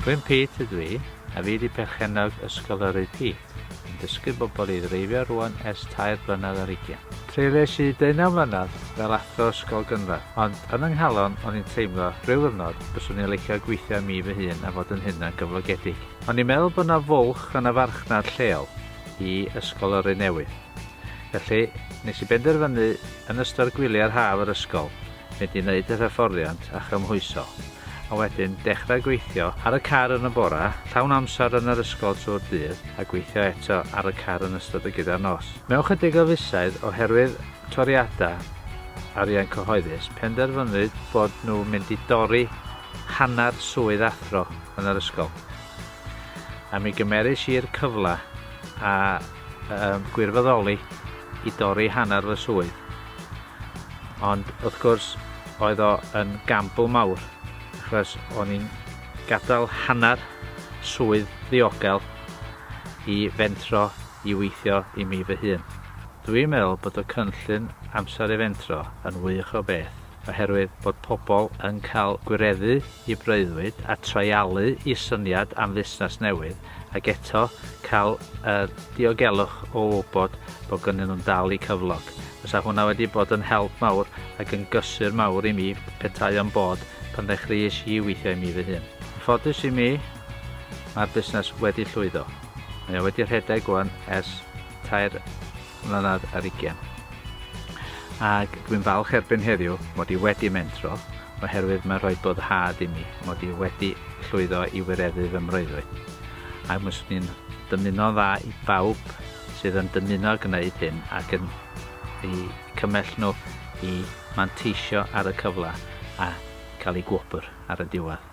Gwyn Pete ydw i, a fi di perchennog Ysgol yr AP. yn dysgu bobl i ddreifio rŵan ers tair blynedd ar ugian. Treulies i deunaw mlynedd fel athro ysgol gynradd, ond yn yng nghalon o'n i'n teimlo, rhyw ddiwrnod, byswn i'n licio gweithio am i fy hun a fod yn hunan gyflogedig. O'n i'n meddwl bod 'na fwlch yn y farchnad lleol i ysgol yrru newydd. Felly, nes i benderfynu yn ystod gwyliau'r haf yr ysgol, mynd i wneud yr hyfforddiant a chymhwyso, a wedyn dechrau gweithio ar y car yn y bore, llawn amser yn yr ysgol trwy'r dydd, a gweithio eto ar y car yn ystod y gyda'r nos. Mewn chydig o fisoedd, oherwydd toriadau arian cyhoeddus, penderfynwyd bod nhw'n mynd i dorri hanner swydd athro yn yr ysgol, a mi gymeris i'r cyfle a gwirfoddoli i dorri hanner fy swydd. Ond wrth gwrs oedd o yn gamble mawr achos o'n i'n gadael hanner swydd ddiogel i fentro i weithio i mi fy hun. Dwi'n meddwl bod y cynllun Amser i Fentro yn wych o beth oherwydd bod pobl yn cael gwireddu i breuddwyd a treialu i syniad am fusnes newydd ac eto cael y diogelwch o wybod bod gynnyn nhw'n dal i cyflog. Fysa hwnna wedi bod yn help mawr ac yn gysur mawr i mi petai o'n bod pan ddechreuais i weithio i mi fy hun. Yn ffodus i mi, mae'r busnes wedi llwyddo. Mae o wedi rhedeg wan ers tair mlynedd ar ugen. Ac dwi'n falch erbyn heddiw mod i wedi mentro oherwydd mae'n rhoi boddhad i mi mod i wedi llwyddo i wireddu fy mreuddwyd. Ac mae swnio'n dymuno'n dda i bawb sydd yn dymuno gwneud hyn ac yn eu cymell nhw i manteisio ar y cyfle a cael eu gwobr ar y diwedd.